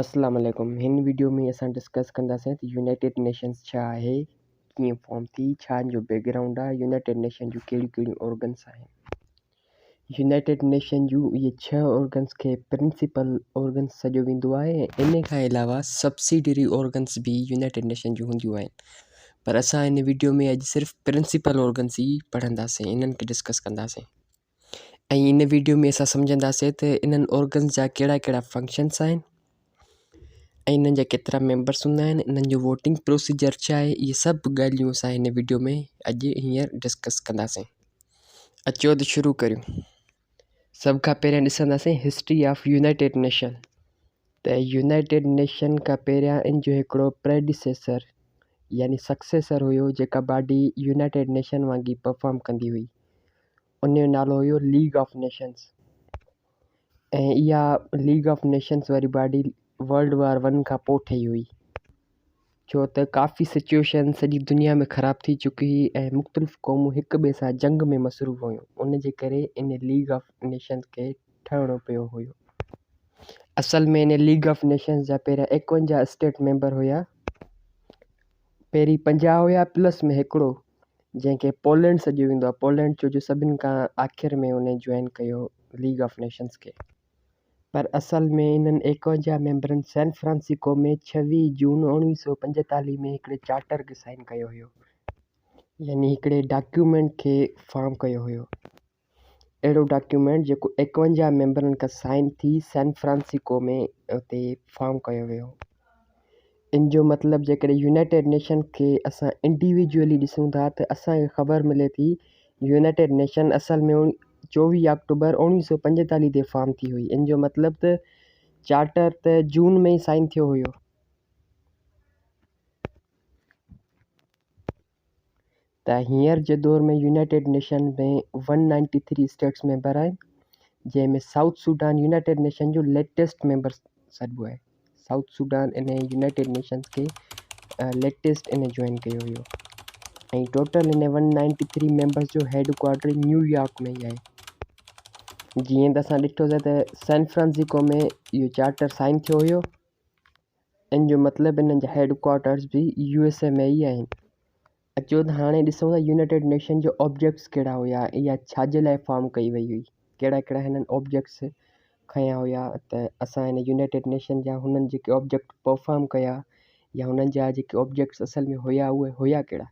اسلام عليڪم هن وڊيو ۾ اسان ڊسڪس ڪنداسين ته يونائيٽيڊ نيشنز ڇا آهي ڪيئن فارم ٿي ڇا ان جو بيڪ گرائونڊ آهي يونائيٽيڊ نيشن جون ڪهڙيون ڪهڙيون آرگنس آهن يونائيٽيڊ نيشن جون اهي ڇهه آرگنس کي پرنسپل آرگنس سڏيو ويندو آهي ان کان علاوه سبسيڊري آرگنس به يونائيٽيڊ نيشن جون هونديون آهن پر اسان هن وڊيو ۾ اڄ صرف پرنسپل آرگنس ئي پڙهنداسين انهن کي ڊسڪس ڪنداسين ۽ ان ويڊيو ۾ اسان سمجهنداسين ته انهن آرگنز جا ڪهڙا ڪهڙا فنڪشنس آهن ۽ انهن جا ڪيترا ميمبرس هوندا آهن انهن جو ووٽنگ پروسيجر ڇا آهي اهي سڀ ڳالهيون اسان هن ويڊيو ۾ اڄ هينئر ڊسڪس ڪنداسين اچو ته شروع ڪريون سڀ کان پهريان ڏسنداسين هسٽري آف يونائٽيڊ نيشن ته يونائيٽيڊ نيشن کان پهريان ان جو هڪڙو پريڊيسيسر يعني سڪسيسر هيو جيڪا باڊي يونائيٽيڊ نيشن وانگي پرفارم ڪندي هئي ان جو نالو هيو ليگ آف نيشنس ۽ اها ليگ آف نيشنس واري باڊي ورلڊ وار ون کان پوء ٺهي هئي ڇو ته ڪافي سچويشن سڄي دنيا ۾ خراب ٿي چڪي هئي ۽ مختلف قومون هڪ ٻئي سان جنگ ۾ مصروف هيون ان جي ڪري ان ليگ آف نيشنس کي ٺهڻو پيو هيو اصل ۾ ان ليگ آف نيشنس جا پهريان ايڪونجاهه اسٽيٽ ميمبر هيا پهرين پنجاهه هيا پلس ۾ هڪڙو جنهن کي پولينڊ سڏيو ويندو آهي. پولينڊ ڇو جو سڀني کان آخر ۾ هن جوائن ڪيو ليگ آف نيشنز کي. پر اصل ۾ انهن ايڪاونجاهه ميمبرن سين فرانسيڪو ۾ ڇويهه جون اڻويهه سؤ پنجيتاليهه ۾ هڪڙي چارٽر کي سائين ڪيو هيو. يعني هڪڙي ڊاڪيومينٽ کي فارم ڪيو هيو. اهڙو ڊاڪيومينٽ جيڪو ايڪونجاهه ميمبرن کان سائين ٿي سين فرانسيڪو ۾ اتي فارم ڪيو ويو. ان جو مطلب جيڪڏهن يونائيٽيڊ نيشن کي اسان انڊيويجوئلي ڏسون ٿا ته اسان کي خبر ملي ٿي يونائيٽيڊ نيشن اصل ۾ چوويهه آڪٽوبر اوڻيهه سؤ پنجيتاليهه تي فارم ٿي هئي ان جو مطلب ته چارٽر ته جون ۾ ئي سائين ٿيو هيو. ته هينئر جي دور ۾ united nation ۾ one ninety three states member آهن جنهن ۾ سائوٿ سوڊان يونائيٽيڊ نيشن جو ليٽيسٽ ميمبر سڏبو آهي سائوٿ سوڊان ان يونائيٽيڊ نيشنز کي ليٽيسٽ ان جوائن ڪيو هيو ۽ ٽوٽل ان ون نائنٽي ٿري ميمبرس جو هيڊ ڪوارٽر نيويارڪ ۾ ئي آهي جيئن ته اسان ڏٺوسي ته سين فرانسيڪو ۾ اهو چارٽر سائن ٿيو هيو ان جو مطلب انهن جا هيڊ ڪوارٽرز به يو ايس اي ۾ ئي آهن. اچو ته هاڻي ڏسون ته يونائيٽيڊ نيشن جا آبجيڪٽس ڪهڙا هيا ۽ اها ڇا جي لاء فارم ڪئي وئي هئي. ڪهڙا ڪهڙا هنن آبجيڪٽس کنيا هيا ته اسان هن يونائيٽيڊ نيشن جا هنن جيڪي آبجيڪٽ پرفارم ڪيا يا هنن جا جيڪي آبجيڪٽس اصل ۾ هيا اهي هيا ڪهڙا.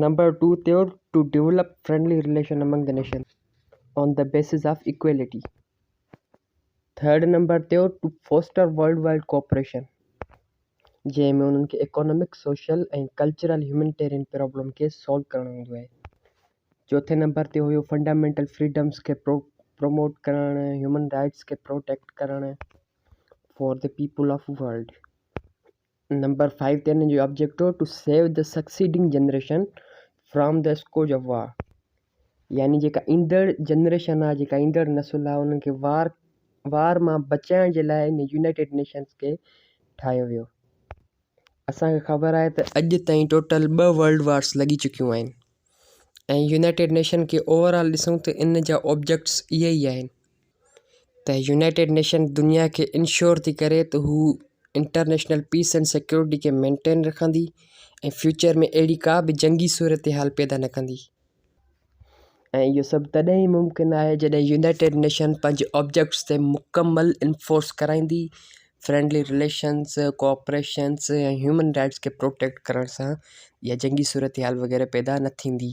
نمبر ٽو تي هو to develop friendly relation among the nation on the basis of equality third number تي هو to foster world wide cooperation جنهن ۾ انهن کي economic social ۽ cultural humanitarian problem کي سالو ڪرڻ هوندو آهي چوٿين نمبر تي هيو فنڊامينٽل فريڊمس کي پرو پروموٽ ڪرڻ هيومن رائٽس کي پروٽيڪٽ ڪرڻ for the people of world number five تي هن جو objective to save the succeeding generation from the scourge of war يعني جيڪا ايندڙ جنريشن آهي جيڪا ايندڙ نسل آهي انهن کي وار وار مان بچائڻ جي لاء ان يونائيٽيڊ نيشنس کي ٺاهيو ويو اسان کي خبر آهي ته اڄ تائين ٽوٽل ٻه ورلڊ وارس لڳي چڪيون آهن ۽ يونائيٽيڊ نيشن کي اوور آل ڏسون ته ان جا آبجيڪٽس اهي ئي آهن ته يونائيٽيڊ نيشن دنيا کي انشور ٿي ڪري ته هو انٽرنيشنل پيس اينڊ سيڪيورٽي کي مينٽين رکندي ۽ فيوچر ۾ اهڙي ڪا به جنگي صورتحال پيدا نه ڪندي ۽ اهو سڀ تڏهن ئي ممڪن آهي جڏهن يونائيٽيڊ نيشن پنهنجي آبجيڪٽس تي مڪمل انفورس ڪرائيندي friendly relations cooperations ۽ human rights کي پروٽيڪٽ ڪرڻ سان اها جنگي صورتحال وغيره پيدا نه ٿيندي.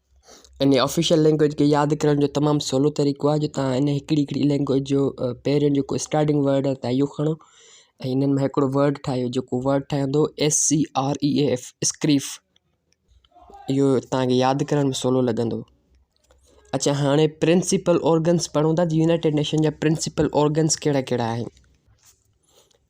انهيء آفيشل لئنگويج کي ياد ڪرڻ جو تمام سولو طريقو آهي جو توهان انهيء هڪڙي هڪڙي لئنگويج جو پهريون جيڪو اسٽارٽنگ ورڊ آهي توهان اهو کڻو ۽ انهن مان هڪڙو ورڊ ٺاهيو جيڪو ورڊ ٺهندو S C R A A F اسڪريف اهو توهانکي ياد ڪرڻ ۾ سولو لڳندو اچا هاڻي پرنسپل اورگنس پڙهون ٿا يونائيٽيڊ نيشن جا پرنسپل اورگنس ڪهڙا ڪهڙا آهن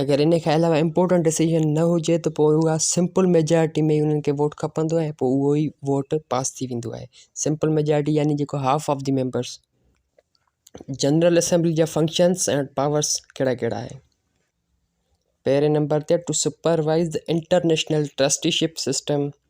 اگر ان کان علاوه امپورٽنٽ ڊسيزن نه هجي ته پوء اها سمپل ميجارٽي ۾ انهن کي ووٽ کپندو آهي پوء اهو ئي ووٽ پاس ٿي ويندو آهي سمپل ميجارٽي يعني جيڪو half of the members general assembly جا فنڪشنس اينڊ پاورس ڪهڙا ڪهڙا آهن پهرين نمبر تي to supervise international trusteeship system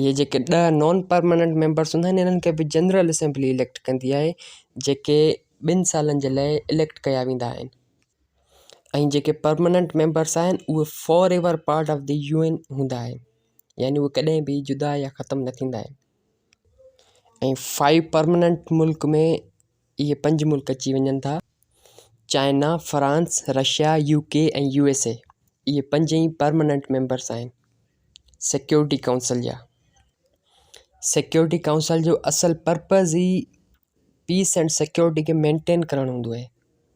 اهي جيڪي ڏهه نان پرماننٽ ميمبرس هوندا آهن انهن کي به جنرل اسيمبلي اليڪٽ ڪندي آهي جيڪي ٻن سالن جي لاء اليڪٽ ڪيا ويندا آهن ۽ جيڪي پرماننٽ ميمبرس آهن اهي forever part of the U N هوندا آهن يعني اهي ڪڏهن به جدا يا ختم نه ٿيندا آهن ۽ فائيو پرماننٽ ملڪ ۾ اهي پنج ملڪ اچي وڃن ٿا China France Russia U K ۽ U S A اهي پنج ئي پرماننٽ ميمبرس آهن سيڪيورٽي ڪائونسل جا سيڪيورٽي ڪائونسل جو اصل پرپز ئي پيس اینڈ سيڪيورٽي کي مينٽين ڪرڻ هوندو آهي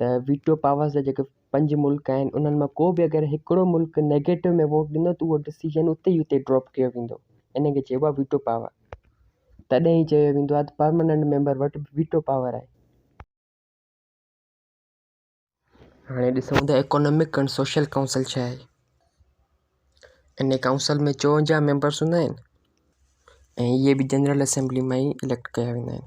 ته ويٽو پاورز جا جيڪي پنج ملڪ آهن انهن مان ڪو به اگر هڪڙو ملڪ نيگيٽو ۾ ووٽ ڏنو ته اهو ڊسيزن اتي ئي اتي ڊراپ ڪيو ويندو ان کي چئبو آهي ويٽو پاور تڏهن ئي چيو ويندو آهي ته پرماننٽ ميمبر وٽ به ويٽو پاور آهي. هاڻي ڏسون ته ايڪانامڪ اينڊ سوشل ڪائونسل ڇا آهي ان ڪائونسل ۾ چوونجاهه ميمبرس هوندا آهن ۽ اهي به جنرل اسيمبلي مان ئي اليڪٽ ڪيا ويندا آهن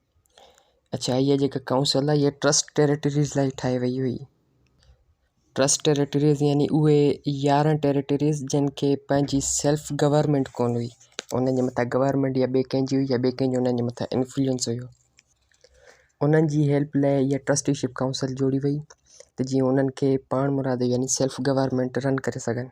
اڇا هيء جيڪا ڪائونسل آهي هيء ٽرسٽ ٽيريٽريز لاء ٺاهي وئي هئي. ٽرسٽ ٽيريٽريز يعني اهي يارهن ٽيريٽريز جن کي پنهنجي سيلف گورنمينٽ ڪونه هئي. انهن جي مٿان گورنمينٽ يا ٻئي ڪنهن جي هئي يا ٻئي ڪنهن جو انهن جي مٿان انفلوئنس هيو. انهن جي هيلپ لاء هيء ٽرسٽي شپ ڪائونسل جوڙي وئي ته جيئن انهن کي پاڻمرادو يعني سيلف گورنمينٽ رن ڪري سگهن.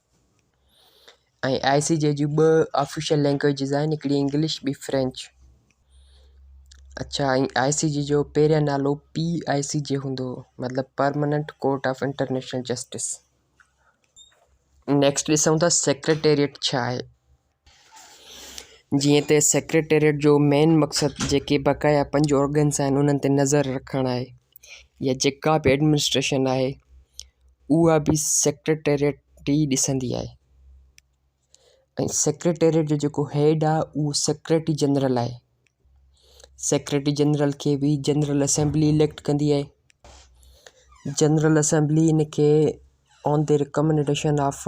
۽ آء سي جي جون ٻه آفيشل لينگويجز آهن هڪڙي انگلش ٻي فرينچ اڇا ۽ آء سي جي جو پهريان نالو پي آء سي جي هوندو هو مطلب permanent court of international justice next ڏسون ٿا سيڪريٽريٽ ڇا آهي جيئن ته سيڪريٽريٽ جو مين مقصد جيڪي بقايا پنج آرگنز آهن انهن تي نظر رکڻ آهي يا جيڪا به ايڊمنسٽريشن آهي اها به سيڪريٽريٽ ئي ڏسندي آهي ۽ سيڪريٽريٽ جو جيڪو هيڊ آهي اهو سيڪريٽري جنرل آهي سيڪريٽري جنرل کي به جنرل اسيمبلي اليڪٽ ڪندي آهي جنرل اسيمبلي ان کي on the recommendation of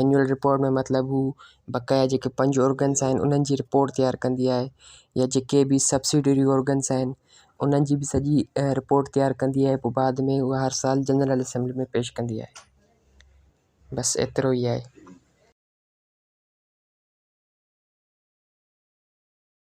annual report ۾ مطلب هو بقايا جيڪي پنج ارگنس آهن انهن جي رپورٽ تيار ڪندي آهي يا جيڪي به سبسڊري ارگنس آهن انهن جي به سڄي رپورٽ تيار ڪندي آهي پوء بعد ۾ هو هر سال جنرل اسيمبلي ۾ پيش ڪندي آهي بس ايترو ئي آهي